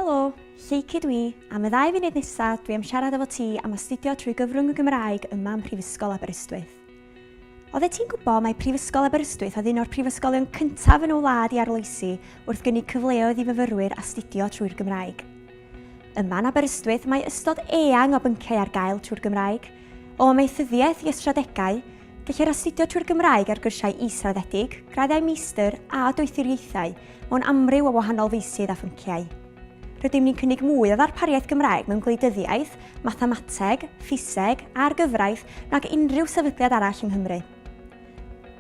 Helo! Lleucu dwi, am y ddau funud nesa dwi am siarad efo ti am astudio trwy gyfrwng y Gymraeg yma ym Mhrifysgol Aberystwyth. Odde ti'n gwbo mae Prifysgol Aberystwyth oedd un o'r prifysgolion cyntaf yn y wlad i arloesi wrth gynnig cyfleoedd i fyfyrwyr astudio trwy'r Gymraeg. Yma'n Aberystwyth mae ystod eang o bynciau ar gael trwy'r Gymraeg, o amaethyddiaeth i ystradegau, Gellir astudio trwy'r Gymraeg ar gyrsiau israddedig, graddau meistr a doethuriaethau mewn amryw o wahanol feysydd a phynciau. Rydym ni'n cynnig mwy o ddarpariaeth Gymraeg mewn gwleidyddiaeth, mathemateg, ffiseg a'r gyfraith nag unrhyw sefydliad arall yng Nghymru.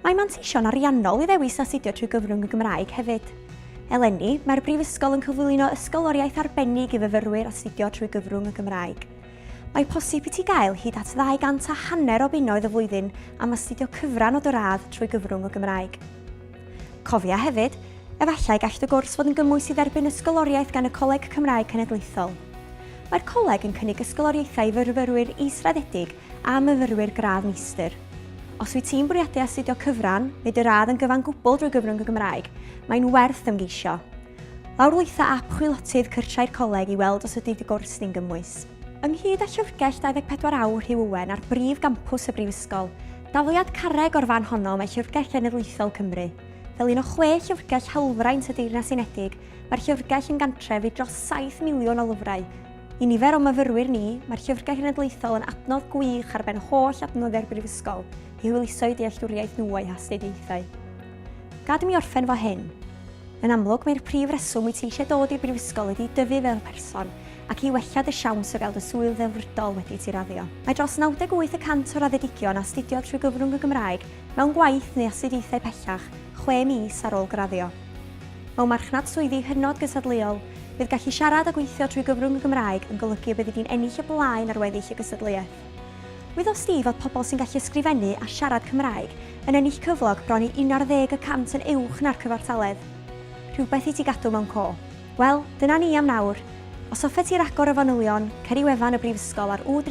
Mae manteision ariannol i ddewis astudio trwy gyfrwng y Gymraeg hefyd. Eleni, mae'r Brifysgol yn cyflwyno ysgoloriaeth arbennig i fyfyrwyr astudio trwy gyfrwng y Gymraeg. Mae posib i ti gael hyd at ddau gant a hanner o bunnoedd y flwyddyn am astudio cyfran o dy radd trwy gyfrwng y Gymraeg. Cofia hefyd, efallai gall dy gwrs fod yn gymwys i dderbyn ysgoloriaeth gan y Coleg Cymraeg Cenedlaethol. Mae'r coleg yn cynnig ysgoloriaethau i fyrfyrwyr israddedig a myfyrwyr gradd meistr. Os wyt ti'n bwriadu astudio cyfran neu dy radd yn gyfan gwbl drwy gyfrwng y Gymraeg, mae'n werth ymgeisio. Lawrlwytho ap chwilotydd cyrsiau'r Coleg i weld os ydy dy gwrs di'n gymwys. Ynghyd â Llyfrgell 24 Awr Hugh Owen ar brif gampws y Brifysgol, dafliad carreg o'r fan honno mae Llyfrgell Genedlaethol Cymru. Fel un o chwe llyfrgell hawlfraint y Deyrnas Unedig, mae'r Llyfrgell yn gantref i dros 7 miliwn o lyfrau. I nifer o myfyrwyr ni, mae'r Llyfrgell Genedlaethol yn adnodd gwych ar ben holl adnoddiau'r Brifysgol i hwyluso eu dealltwriaeth nhw o'u hastudiaethau. Gad i mi orffen fo hyn. Yn amlwg, mae'r prif reswm wyt ti eisiau dod i'r brifysgol ydi i dyfu fel person, ac i wella dy siawns o gael dy swydd ddelfrydol wedi ti raddio. Mae dros 98 y cant o raddedigion astudiodd trwy gyfrwng y Gymraeg mewn gwaith neu astudiaethau pellach chwe mis ar ôl graddio. Mewn marchnad swyddi hynod gystadleuol, bydd gallu siarad a gweithio trwy gyfrwng y Gymraeg yn golygu y byddi di'n ennill y blaen ar weddill y gystadleuaeth. Wyddodd Steve fod pobl sy'n gallu ysgrifennu a siarad Cymraeg yn ennill cyflog bron i 11 y cant yn uwch na'r cyfartaledd. Rhywbeth i ti gadw mewn co. Wel, dyna ni am nawr. Os hoffet ti ragor o fanylion, cer i wefan y Brifysgol ar www.aber.ac.uk.